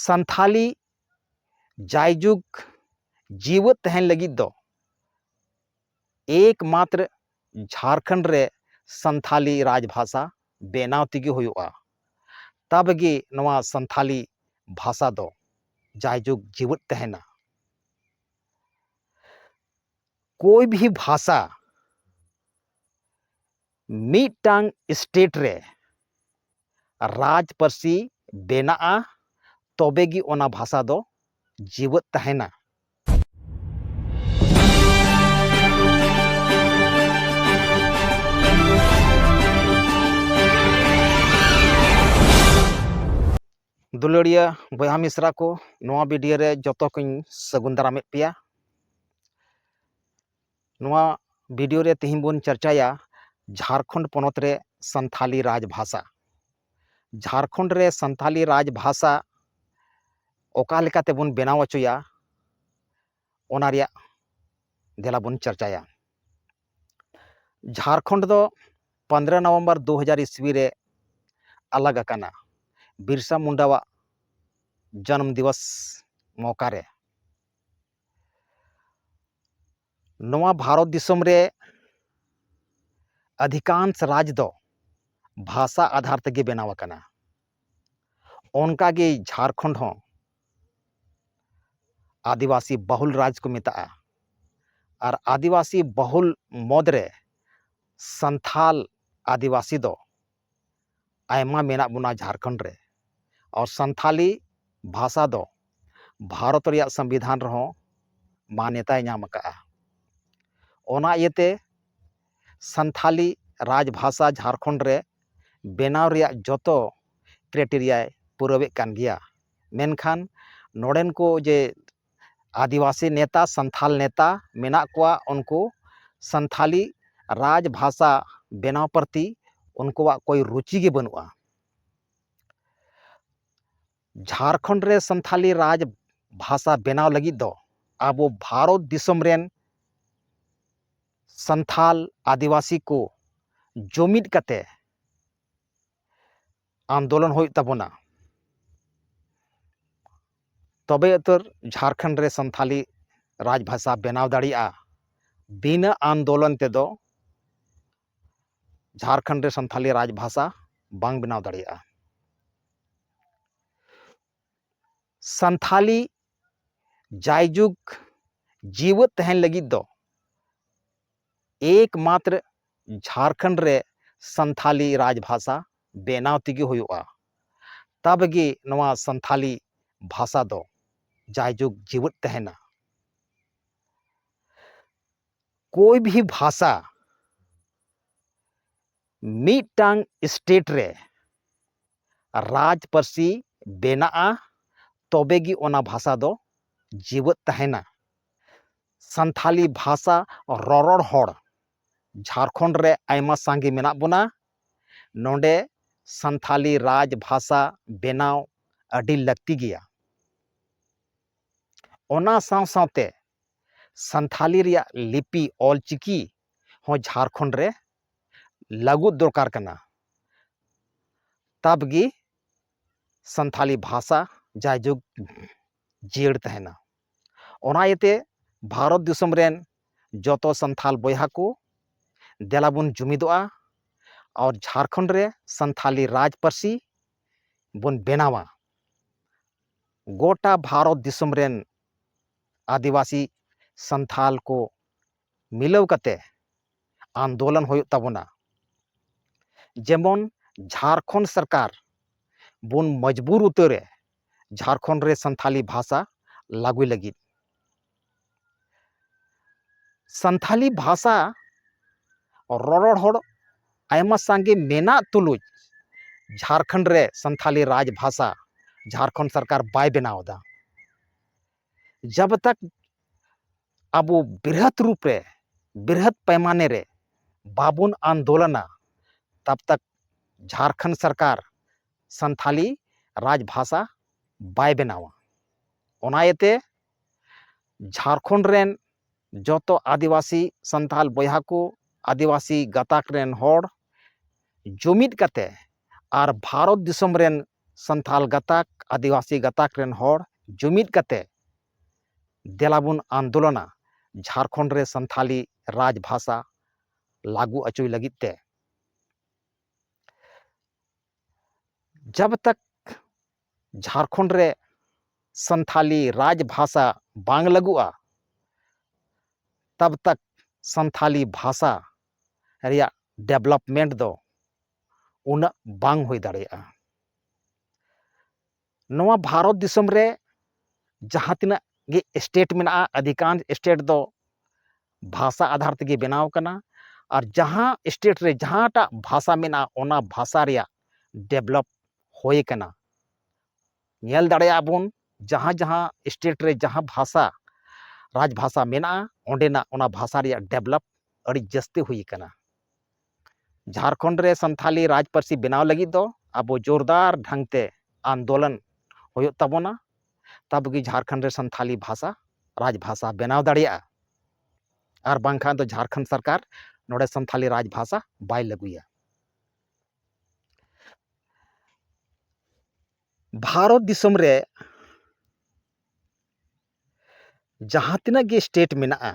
ᱥᱟᱱᱛᱷᱟᱞᱤ ᱡᱟᱭᱡᱩᱜᱽ ᱡᱤᱣᱟᱹᱫ ᱛᱟᱦᱮᱱ ᱞᱟᱹᱜᱤᱫ ᱫᱚ ᱮᱠᱢᱟᱛᱨ ᱡᱷᱟᱨᱠᱷᱚᱸᱰ ᱨᱮ ᱥᱟᱱᱛᱷᱟᱞᱤ ᱨᱟᱡᱽ ᱵᱷᱟᱥᱟ ᱵᱮᱱᱟᱣ ᱛᱮᱜᱮ ᱦᱩᱭᱩᱜᱼᱟ ᱛᱚᱵᱮ ᱜᱮ ᱱᱚᱣᱟ ᱥᱟᱱᱛᱷᱟᱞᱤ ᱵᱷᱟᱥᱟ ᱫᱚ ᱡᱟᱭᱡᱩᱜᱽ ᱡᱤᱣᱟᱹᱫ ᱛᱟᱦᱮᱱᱟ ᱠᱳᱭ ᱵᱷᱤ ᱵᱷᱟᱥᱟ ᱢᱤᱫᱴᱟᱝ ᱥᱴᱮᱴ ᱨᱮ ᱨᱟᱡᱽ ᱯᱟᱹᱨᱥᱤ ᱵᱮᱱᱟᱜᱼᱟ ᱛᱚᱵᱮ ᱜᱮ ᱚᱱᱟ ᱵᱷᱟᱥᱟ ᱫᱚ ᱡᱤᱣᱮᱫ ᱛᱟᱦᱮᱱᱟ ᱫᱩᱞᱟᱹᱲᱤᱭᱟᱹ ᱵᱚᱭᱦᱟ ᱢᱤᱥᱨᱟ ᱠᱚ ᱱᱚᱣᱟ ᱵᱷᱤᱰᱤᱭᱳ ᱨᱮ ᱡᱚᱛᱚ ᱠᱚᱧ ᱥᱟᱹᱜᱩᱱ ᱫᱟᱨᱟᱢᱮᱫ ᱯᱮᱭᱟ ᱱᱚᱣᱟ ᱵᱷᱤᱰᱤᱭᱳ ᱨᱮ ᱛᱮᱦᱮᱧ ᱵᱚᱱ ᱪᱟᱨᱪᱟᱭᱟ ᱡᱷᱟᱲᱠᱷᱚᱸᱰ ᱯᱚᱱᱚᱛ ᱨᱮ ᱥᱟᱱᱛᱷᱟᱞᱤ ᱨᱟᱡᱽ ᱵᱷᱟᱥᱟ ᱡᱷᱟᱲᱠᱷᱚᱸᱰ ᱨᱮ ᱥᱟᱱᱛᱷᱟᱞᱤ ᱨᱟᱡᱽ ᱵᱷᱟᱥᱟ ᱚᱠᱟ ᱞᱮᱠᱟ ᱛᱮᱵᱚᱱ ᱵᱮᱱᱟᱣ ᱦᱚᱪᱚᱭᱟ ᱚᱱᱟ ᱨᱮᱭᱟᱜ ᱫᱮᱞᱟ ᱵᱚᱱ ᱪᱟᱨᱪᱟᱭᱟ ᱡᱷᱟᱲᱠᱷᱚᱸᱰ ᱫᱚ ᱯᱚᱱᱫᱽᱨᱚ ᱱᱚᱵᱷᱮᱢᱵᱚᱨ ᱫᱩ ᱦᱟᱡᱟᱨ ᱤᱥᱣᱤ ᱨᱮ ᱟᱞᱟᱜᱽ ᱟᱠᱟᱱᱟ ᱵᱤᱨᱥᱟ ᱢᱩᱱᱰᱟᱣᱟᱜ ᱡᱚᱱᱚᱢ ᱫᱤᱵᱚᱥ ᱢᱚᱣᱠᱟ ᱨᱮ ᱱᱚᱣᱟ ᱵᱷᱟᱨᱚᱛ ᱫᱤᱥᱚᱢ ᱨᱮ ᱟᱫᱷᱤᱠᱟᱝᱥ ᱨᱟᱡᱽ ᱫᱚ ᱵᱷᱟᱥᱟ ᱟᱫᱷᱟᱨ ᱛᱮᱜᱮ ᱵᱮᱱᱟᱣ ᱟᱠᱟᱱᱟ ᱚᱱᱠᱟ ᱜᱮ ᱡᱷᱟᱲᱠᱷᱚᱸᱰ ᱦᱚᱸ ᱟᱹᱫᱤᱵᱟᱹᱥᱤ ᱵᱟᱹᱦᱩᱞ ᱨᱟᱡᱽ ᱠᱚ ᱢᱮᱛᱟᱜᱼᱟ ᱟᱨ ᱟᱹᱫᱤᱵᱟᱹᱥᱤ ᱵᱟᱹᱦᱩᱞ ᱢᱩᱫᱽ ᱨᱮ ᱥᱟᱱᱛᱷᱟᱞ ᱟᱹᱫᱤᱵᱟᱹᱥᱤ ᱫᱚ ᱟᱭᱢᱟ ᱢᱮᱱᱟᱜ ᱵᱚᱱᱟ ᱡᱷᱟᱨᱠᱷᱚᱸᱰ ᱨᱮ ᱟᱨ ᱥᱟᱱᱛᱷᱟᱞᱤ ᱵᱷᱟᱥᱟ ᱫᱚ ᱵᱷᱟᱨᱚᱛ ᱨᱮᱭᱟᱜ ᱥᱚᱝᱵᱤᱫᱷᱟᱱ ᱨᱮᱦᱚᱸ ᱢᱟᱱᱱᱚᱛᱟᱭ ᱧᱟᱢ ᱟᱠᱟᱫᱼᱟ ᱚᱱᱟ ᱤᱭᱟᱹᱛᱮ ᱥᱟᱱᱛᱷᱟᱞᱤ ᱨᱟᱡᱽ ᱵᱷᱟᱥᱟ ᱡᱷᱟᱨᱠᱷᱚᱸᱰ ᱨᱮ ᱵᱮᱱᱟᱣ ᱨᱮᱭᱟᱜ ᱡᱚᱛᱚ ᱠᱨᱮᱴᱮᱨᱤᱭᱟᱭ ᱯᱩᱨᱟᱹᱣᱮᱫ ᱠᱟᱱ ᱜᱮᱭᱟ ᱢᱮᱱᱠᱷᱟᱱ ᱱᱚᱸᱰᱮᱱ ᱠᱚ ᱡᱮ ᱟᱹᱫᱤᱵᱟᱹᱥᱤ ᱱᱮᱛᱟ ᱥᱟᱱᱛᱷᱟᱞ ᱱᱮᱛᱟ ᱢᱮᱱᱟᱜ ᱠᱚᱣᱟ ᱩᱱᱠᱩ ᱥᱟᱱᱛᱷᱟᱞᱤ ᱨᱟᱡᱽ ᱵᱷᱟᱥᱟ ᱵᱮᱱᱟᱣ ᱯᱨᱚᱛᱤ ᱩᱱᱠᱩᱣᱟᱜ ᱠᱳᱭ ᱨᱩᱪᱤ ᱜᱮ ᱵᱟᱹᱱᱩᱜᱼᱟ ᱡᱷᱟᱲᱠᱷᱚᱸᱰ ᱨᱮ ᱥᱟᱱᱛᱷᱟᱞᱤ ᱨᱟᱡᱽ ᱵᱷᱟᱥᱟ ᱵᱮᱱᱟᱣ ᱞᱟᱹᱜᱤᱫ ᱫᱚ ᱟᱵᱚ ᱵᱷᱟᱨᱚᱛ ᱫᱤᱥᱚᱢ ᱨᱮᱱ ᱥᱟᱱᱛᱷᱟᱞ ᱟᱹᱫᱤᱵᱟᱹᱥᱤ ᱠᱚ ᱡᱩᱢᱤᱫ ᱠᱟᱛᱮ ᱟᱱᱫᱳᱞᱚᱱ ᱦᱩᱭᱩᱜ ᱛᱟᱵᱚᱱᱟ ᱛᱚᱵᱮ ᱩᱛᱟᱹᱨ ᱡᱷᱟᱲᱠᱷᱚᱸᱰ ᱨᱮ ᱥᱟᱱᱛᱟᱲᱤ ᱨᱟᱡᱽ ᱵᱷᱟᱥᱟ ᱵᱮᱱᱟᱣ ᱫᱟᱲᱮᱭᱟᱜᱼᱟ ᱵᱤᱱᱟᱹ ᱟᱱᱫᱳᱞᱚᱱ ᱛᱮᱫᱚ ᱡᱷᱟᱲᱠᱷᱚᱸᱰ ᱨᱮ ᱥᱟᱱᱛᱟᱲᱤ ᱨᱟᱡᱽ ᱵᱷᱟᱥᱟ ᱵᱟᱝ ᱵᱮᱱᱟᱣ ᱫᱟᱲᱮᱭᱟᱜᱼᱟ ᱥᱟᱱᱛᱷᱟᱞᱤ ᱡᱟᱭᱡᱩᱜᱽ ᱡᱤᱣᱟᱹᱫ ᱛᱟᱦᱮᱱ ᱞᱟᱹᱜᱤᱫ ᱫᱚ ᱮᱠ ᱢᱟᱛᱨᱚ ᱡᱷᱟᱨᱠᱷᱚᱸᱰ ᱨᱮ ᱥᱟᱱᱛᱷᱟᱞᱤ ᱨᱟᱡᱽ ᱵᱷᱟᱥᱟ ᱵᱮᱱᱟᱣ ᱛᱮᱜᱮ ᱦᱩᱭᱩᱜᱼᱟ ᱛᱚᱵᱮ ᱜᱮ ᱱᱚᱣᱟ ᱥᱟᱱᱛᱷᱟᱞᱤ ᱵᱷᱟᱥᱟ ᱫᱚ ᱡᱟᱭᱡᱩᱜᱽ ᱡᱤᱣᱟᱹᱫ ᱛᱟᱦᱮᱱᱟ ᱠᱳᱭ ᱵᱷᱤ ᱵᱷᱟᱥᱟ ᱢᱤᱫᱴᱟᱝ ᱥᱴᱮᱴ ᱨᱮ ᱨᱟᱡᱽ ᱯᱟᱹᱨᱥᱤ ᱵᱮᱱᱟᱜᱼᱟ ᱛᱚᱵᱮ ᱜᱮ ᱚᱱᱟ ᱵᱷᱟᱥᱟ ᱫᱚ ᱡᱮᱣᱮᱫ ᱛᱟᱦᱮᱱᱟ ᱥᱟᱱᱛᱷᱟᱞᱤ ᱵᱷᱟᱥᱟ ᱨᱚᱨᱚᱲ ᱦᱚᱲ ᱡᱷᱟᱲᱠᱷᱚᱸᱰ ᱨᱮ ᱟᱭᱢᱟ ᱥᱟᱸᱜᱮ ᱢᱮᱱᱟᱜ ᱵᱚᱱᱟ ᱱᱚᱸᱰᱮ ᱥᱟᱱᱛᱷᱟᱞᱤ ᱨᱟᱡᱽ ᱵᱷᱟᱥᱟ ᱵᱮᱱᱟᱣ ᱟᱹᱰᱤ ᱞᱟᱹᱠᱛᱤ ᱜᱮᱭᱟ ᱚᱱᱟ ᱥᱟᱶ ᱥᱟᱶᱛᱮ ᱥᱟᱱᱛᱷᱟᱞᱤ ᱨᱮᱭᱟᱜ ᱞᱤᱯᱤ ᱚᱞ ᱪᱤᱠᱤ ᱦᱚᱸ ᱡᱷᱟᱨᱠᱷᱚᱸᱰ ᱨᱮ ᱞᱟᱹᱜᱩ ᱫᱚᱨᱠᱟᱨ ᱠᱟᱱᱟ ᱛᱟᱵᱽᱜᱮ ᱥᱟᱱᱛᱷᱟᱞᱤ ᱵᱷᱟᱥᱟ ᱡᱟᱭᱡᱩᱜᱽ ᱡᱤᱭᱟᱹᱲ ᱛᱟᱦᱮᱱᱟ ᱚᱱᱟ ᱤᱭᱟᱹᱛᱮ ᱵᱷᱟᱨᱚᱛ ᱫᱤᱥᱚᱢ ᱨᱮᱱ ᱡᱚᱛᱚ ᱥᱟᱱᱛᱷᱟᱞ ᱵᱚᱭᱦᱟ ᱠᱚ ᱫᱮᱞᱟ ᱵᱚᱱ ᱡᱩᱢᱤᱫᱚᱜᱼᱟ ᱟᱨ ᱡᱷᱟᱨᱠᱷᱚᱸᱰ ᱨᱮ ᱥᱟᱱᱛᱷᱟᱞᱤ ᱨᱟᱡᱽ ᱯᱟᱹᱨᱥᱤ ᱵᱚᱱ ᱵᱮᱱᱟᱣᱟ ᱜᱚᱴᱟ ᱵᱷᱟᱨᱚᱛ ᱫᱤᱥᱚᱢ ᱨᱮᱱ ᱟᱹᱫᱤᱵᱟᱹᱥᱤ ᱥᱟᱱᱛᱷᱟᱞ ᱠᱚ ᱢᱤᱞᱟᱹᱣ ᱠᱟᱛᱮ ᱟᱱᱫᱳᱞᱚᱱ ᱦᱩᱭᱩᱜ ᱛᱟᱵᱚᱱᱟ ᱡᱮᱢᱚᱱ ᱡᱷᱟᱨᱠᱷᱚᱸᱰ ᱥᱚᱨᱠᱟᱨ ᱵᱚᱱ ᱢᱚᱡᱽᱵᱩᱨ ᱩᱛᱟᱹᱨᱮ ᱡᱷᱟᱨᱠᱷᱚᱸᱰ ᱨᱮ ᱥᱟᱱᱛᱷᱟᱞᱤ ᱵᱷᱟᱥᱟ ᱞᱟᱹᱜᱩᱭ ᱞᱟᱹᱜᱤᱫ ᱥᱟᱱᱛᱷᱟᱞᱤ ᱵᱷᱟᱥᱟ ᱨᱚᱨᱚᱲ ᱦᱚᱲ ᱟᱭᱢᱟ ᱥᱟᱸᱜᱮ ᱢᱮᱱᱟᱜ ᱛᱩᱞᱩᱡ ᱡᱷᱟᱨᱠᱷᱚᱸᱰ ᱨᱮ ᱥᱟᱱᱛᱷᱟᱞᱤ ᱨᱟᱡᱽ ᱵᱷᱟᱥᱟ ᱡᱷᱟᱨᱠᱷᱚᱸᱰ ᱥᱚᱨᱠᱟᱨ ᱵᱟᱭ ᱵᱮᱱᱟᱣ ᱮᱫᱟ ᱡᱟᱵᱽ ᱛᱟᱠ ᱟᱵᱚ ᱵᱨᱤᱦᱚᱛ ᱨᱩᱯ ᱨᱮ ᱵᱨᱤᱦᱚᱛ ᱯᱟᱭᱢᱟᱱᱮ ᱨᱮ ᱵᱟᱵᱚᱱ ᱟᱱᱫᱳᱞᱚᱱᱟ ᱛᱟᱵᱽ ᱛᱟᱠ ᱡᱷᱟᱲᱠᱷᱚᱸᱰ ᱥᱚᱨᱠᱟᱨ ᱥᱟᱱᱛᱷᱟᱞᱤ ᱨᱟᱡᱽ ᱵᱷᱟᱥᱟ ᱵᱟᱭ ᱵᱮᱱᱟᱣᱟ ᱚᱱᱟ ᱤᱭᱟᱹᱛᱮ ᱡᱷᱟᱲᱠᱷᱚᱸᱰ ᱨᱮᱱ ᱡᱚᱛᱚ ᱟᱹᱫᱤᱵᱟᱹᱥᱤ ᱥᱟᱱᱛᱟᱞ ᱵᱚᱭᱦᱟ ᱠᱚ ᱟᱹᱫᱤᱵᱟᱹᱥᱤ ᱜᱟᱛᱟᱠ ᱨᱮᱱ ᱦᱚᱲ ᱡᱩᱢᱤᱫ ᱠᱟᱛᱮᱫ ᱟᱨ ᱵᱷᱟᱨᱚᱛ ᱫᱤᱥᱚᱢ ᱨᱮᱱ ᱥᱟᱱᱛᱟᱞ ᱜᱟᱛᱟᱠ ᱟᱹᱫᱤᱵᱟᱹᱥᱤ ᱜᱟᱛᱟᱠ ᱨᱮᱱ ᱦᱚᱲ ᱡᱩᱢᱤᱫ ᱠᱟᱛᱮ ᱫᱮᱞᱟ ᱵᱚᱱ ᱟᱱᱫᱳᱞᱚᱱᱟ ᱡᱷᱟᱲᱠᱷᱚᱸᱰ ᱨᱮ ᱥᱟᱱᱛᱟᱞᱤ ᱨᱟᱡᱽ ᱵᱷᱟᱥᱟ ᱞᱟᱹᱜᱩ ᱚᱪᱚᱭ ᱞᱟᱹᱜᱤᱫ ᱛᱮ ᱡᱟᱵᱽ ᱛᱟᱠ ᱡᱷᱟᱲᱠᱷᱚᱸᱰ ᱨᱮ ᱥᱟᱱᱛᱟᱞᱤ ᱨᱟᱡᱽ ᱵᱷᱟᱥᱟ ᱵᱟᱝ ᱞᱟᱹᱜᱩᱜᱼᱟ ᱛᱟᱵᱽ ᱛᱟᱠ ᱥᱟᱱᱛᱟᱞᱤ ᱵᱷᱟᱥᱟ ᱨᱮᱭᱟᱜ ᱰᱮᱵᱷᱞᱚᱯᱢᱮᱱᱴ ᱫᱚ ᱩᱱᱟᱹᱜ ᱵᱟᱝ ᱦᱩᱭ ᱫᱟᱲᱮᱭᱟᱜᱼᱟ ᱱᱚᱣᱟ ᱵᱷᱟᱨᱚᱛ ᱫᱤᱥᱚᱢ ᱨᱮ ᱡᱟᱦᱟᱸ ᱛᱤᱱᱟᱹᱜ ᱜᱮ ᱥᱴᱮᱴ ᱢᱮᱱᱟᱜᱼᱟ ᱟᱹᱫᱷᱤᱠᱟᱱᱥ ᱥᱴᱮᱴ ᱫᱚ ᱵᱷᱟᱥᱟ ᱟᱫᱷᱟᱨ ᱛᱮᱜᱮ ᱵᱮᱱᱟᱣ ᱠᱟᱱᱟ ᱟᱨ ᱡᱟᱦᱟᱸ ᱥᱴᱮᱴ ᱨᱮ ᱡᱟᱦᱟᱸᱴᱟᱜ ᱵᱷᱟᱥᱟ ᱢᱮᱱᱟᱜᱼᱟ ᱚᱱᱟ ᱵᱷᱟᱥᱟ ᱨᱮᱭᱟᱜ ᱰᱮᱵᱷᱞᱚᱯ ᱦᱩᱭ ᱠᱟᱱᱟ ᱧᱮᱞ ᱫᱟᱲᱮᱭᱟᱜᱼᱟ ᱵᱚᱱ ᱡᱟᱦᱟᱸ ᱡᱟᱦᱟᱸ ᱥᱴᱮᱴ ᱨᱮ ᱡᱟᱦᱟᱸ ᱵᱷᱟᱥᱟ ᱨᱟᱡᱽ ᱵᱷᱟᱥᱟ ᱢᱮᱱᱟᱜᱼᱟ ᱚᱸᱰᱮᱱᱟᱜ ᱚᱱᱟ ᱵᱷᱟᱥᱟ ᱨᱮᱭᱟᱜ ᱰᱮᱵᱷᱞᱚᱯ ᱟᱹᱰᱤ ᱡᱟᱹᱥᱛᱤ ᱦᱩᱭ ᱟᱠᱟᱱᱟ ᱡᱷᱟᱲᱠᱷᱚᱸᱰ ᱨᱮ ᱥᱟᱱᱛᱷᱟᱞᱤ ᱨᱟᱡᱽ ᱯᱟᱹᱨᱥᱤ ᱵᱮᱱᱟᱣ ᱞᱟᱹᱜᱤᱫ ᱫᱚ ᱟᱵᱚ ᱡᱳᱨᱫᱟᱨ ᱰᱷᱟᱝ ᱛᱮ ᱟᱱᱫᱳᱞᱚᱱ ᱦᱩᱭᱩᱜ ᱛᱟᱵᱚᱱᱟ ᱛᱟᱵᱚ ᱜᱮ ᱡᱷᱟᱲᱠᱷᱚᱸᱰ ᱨᱮ ᱥᱟᱱᱛᱷᱟᱞᱤ ᱵᱷᱟᱥᱟ ᱨᱟᱡᱽ ᱵᱷᱟᱥᱟ ᱵᱮᱱᱟᱣ ᱫᱟᱲᱮᱭᱟᱜᱼᱟ ᱟᱨ ᱵᱟᱝᱠᱷᱟᱱ ᱫᱚ ᱡᱷᱟᱲᱠᱷᱚᱸᱰ ᱥᱚᱨᱠᱟᱨ ᱱᱚᱰᱮ ᱥᱟᱱᱛᱷᱟᱞᱤ ᱨᱟᱡᱽ ᱵᱷᱟᱥᱟ ᱵᱟᱭ ᱞᱟᱹᱜᱩᱭᱟ ᱵᱷᱟᱨᱚᱛ ᱫᱤᱥᱚᱢ ᱨᱮ ᱡᱟᱦᱟᱸ ᱛᱤᱱᱟᱹᱜ ᱜᱮ ᱥᱴᱮᱴ ᱢᱮᱱᱟᱜᱼᱟ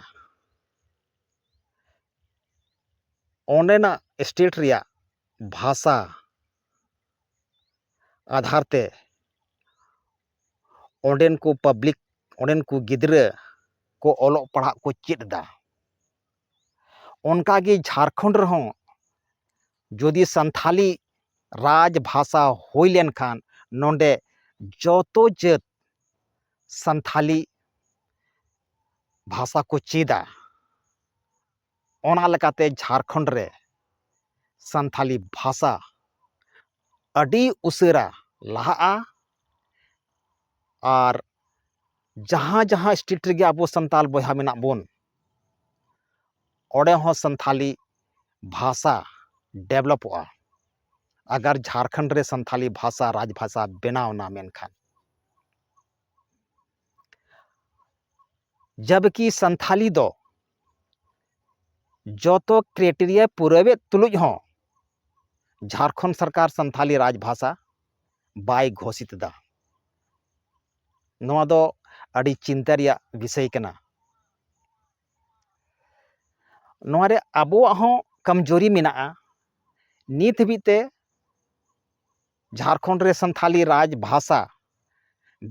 ᱚᱸᱰᱮᱱᱟᱜ ᱥᱴᱮᱴ ᱨᱮᱭᱟᱜ ᱵᱷᱟᱥᱟ ᱟᱫᱷᱟᱨ ᱛᱮ ᱚᱸᱰᱮᱱ ᱠᱚ ᱯᱟᱵᱽᱞᱤᱠ ᱚᱸᱰᱮᱱ ᱠᱚ ᱜᱤᱫᱽᱨᱟᱹ ᱠᱚ ᱚᱞᱚᱜ ᱯᱟᱲᱦᱟᱜ ᱠᱚ ᱪᱮᱫ ᱮᱫᱟ ᱚᱱᱠᱟ ᱜᱮ ᱡᱷᱟᱲᱠᱷᱚᱸᱰ ᱨᱮᱦᱚᱸ ᱡᱩᱫᱤ ᱥᱟᱱᱛᱷᱟᱞᱤ ᱨᱟᱡᱽ ᱵᱷᱟᱥᱟ ᱦᱩᱭ ᱞᱮᱱᱠᱷᱟᱱ ᱱᱚᱸᱰᱮ ᱡᱚᱛᱚ ᱡᱟᱹᱛ ᱥᱟᱱᱛᱷᱟᱞᱤ ᱵᱷᱟᱥᱟ ᱠᱚ ᱪᱮᱫᱟ ᱚᱱᱟ ᱞᱮᱠᱟᱛᱮ ᱡᱷᱟᱲᱠᱷᱚᱸᱰ ᱨᱮ ᱥᱟᱱᱛᱷᱟᱞᱤ ᱵᱷᱟᱥᱟ ᱟᱹᱰᱤ ᱩᱥᱟᱹᱨᱟ ᱞᱟᱦᱟᱜᱼᱟ ᱟᱨ ᱡᱟᱦᱟᱸ ᱡᱟᱦᱟᱸ ᱥᱴᱮᱴ ᱨᱮᱜᱮ ᱟᱵᱚ ᱥᱟᱱᱛᱟᱞ ᱵᱚᱭᱦᱟ ᱢᱮᱱᱟᱜ ᱵᱚᱱ ᱚᱸᱰᱮ ᱦᱚᱸ ᱥᱟᱱᱛᱷᱟᱞᱤ ᱵᱷᱟᱥᱟ ᱰᱮᱵᱞᱚᱯᱚᱜᱼᱟ ᱟᱜᱟᱨ ᱡᱷᱟᱲᱠᱷᱚᱸᱰ ᱨᱮ ᱥᱟᱱᱛᱷᱟᱞᱤ ᱵᱷᱟᱥᱟ ᱨᱟᱡᱽ ᱵᱷᱟᱥᱟ ᱵᱮᱱᱟᱣᱮᱱᱟ ᱢᱮᱱᱠᱷᱟᱱ ᱡᱟᱵᱽᱠᱤ ᱥᱟᱱᱛᱷᱟᱞᱤ ᱫᱚ ᱡᱚᱛᱚ ᱠᱨᱮᱴᱮᱨᱤᱭᱟ ᱯᱩᱨᱟᱹᱣᱮᱫ ᱛᱩᱞᱩᱡ ᱦᱚᱸ ᱡᱷᱟᱲᱠᱷᱚᱸᱰ ᱥᱚᱨᱠᱟᱨ ᱥᱟᱱᱛᱷᱟᱞᱤ ᱨᱟᱡᱽ ᱵᱷᱟᱥᱟ ᱵᱟᱭ ᱜᱷᱳᱥᱤᱛ ᱮᱫᱟ ᱱᱚᱣᱟ ᱫᱚ ᱟᱹᱰᱤ ᱪᱤᱱᱛᱟᱹ ᱨᱮᱭᱟᱜ ᱵᱤᱥᱚᱭ ᱠᱟᱱᱟ ᱱᱚᱣᱟ ᱨᱮ ᱟᱵᱚᱣᱟᱜ ᱦᱚᱸ ᱠᱚᱢᱡᱩᱨᱤ ᱢᱮᱱᱟᱜᱼᱟ ᱱᱤᱛ ᱦᱟᱹᱵᱤᱡ ᱛᱮ ᱡᱷᱟᱲᱠᱷᱚᱸᱰ ᱨᱮ ᱥᱟᱱᱛᱷᱟᱞᱤ ᱨᱟᱡᱽ ᱵᱷᱟᱥᱟ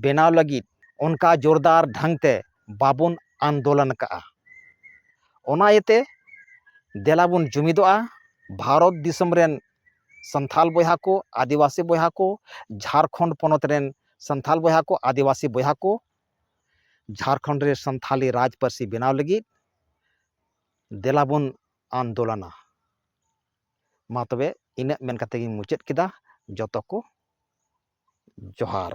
ᱵᱮᱱᱟᱣ ᱞᱟᱹᱜᱤᱫ ᱚᱱᱠᱟ ᱡᱳᱨᱫᱟᱨ ᱰᱷᱟᱝ ᱛᱮ ᱵᱟᱵᱚᱱ ᱟᱱᱫᱳᱞᱚᱱ ᱟᱠᱟᱫᱼᱟ ᱚᱱᱟ ᱤᱭᱟᱹᱛᱮ ᱫᱮᱞᱟ ᱵᱚᱱ ᱡᱩᱢᱤᱫᱚᱜᱼᱟ ᱵᱷᱟᱨᱚᱛ ᱫᱤᱥᱚᱢ ᱨᱮᱱ ᱥᱟᱱᱛᱷᱟᱞ ᱵᱚᱭᱦᱟ ᱠᱚ ᱟᱹᱫᱤᱵᱟᱹᱥᱤ ᱵᱚᱭᱦᱟ ᱠᱚ ᱡᱷᱟᱲᱠᱷᱚᱸᱰ ᱯᱚᱱᱚᱛ ᱨᱮᱱ ᱥᱟᱱᱛᱷᱟᱞ ᱵᱚᱭᱦᱟ ᱠᱚ ᱟᱹᱫᱤᱵᱟᱹᱥᱤ ᱵᱚᱭᱦᱟ ᱠᱚ ᱡᱷᱟᱲᱠᱷᱚᱸᱰ ᱨᱮ ᱥᱟᱱᱛᱷᱟᱞᱤ ᱨᱟᱡᱽ ᱯᱟᱹᱨᱥᱤ ᱵᱮᱱᱟᱣ ᱞᱟᱹᱜᱤᱫ ᱫᱮᱞᱟ ᱵᱚᱱ ᱟᱱᱫᱳᱞᱚᱱᱟ ᱢᱟ ᱛᱚᱵᱮ ᱤᱱᱟᱹᱜ ᱢᱮᱱ ᱠᱟᱛᱮ ᱜᱤᱧ ᱢᱩᱪᱟᱹᱫ ᱠᱮᱫᱟ ᱡᱚᱛᱚ ᱠᱚ ᱡᱚᱦᱟᱨ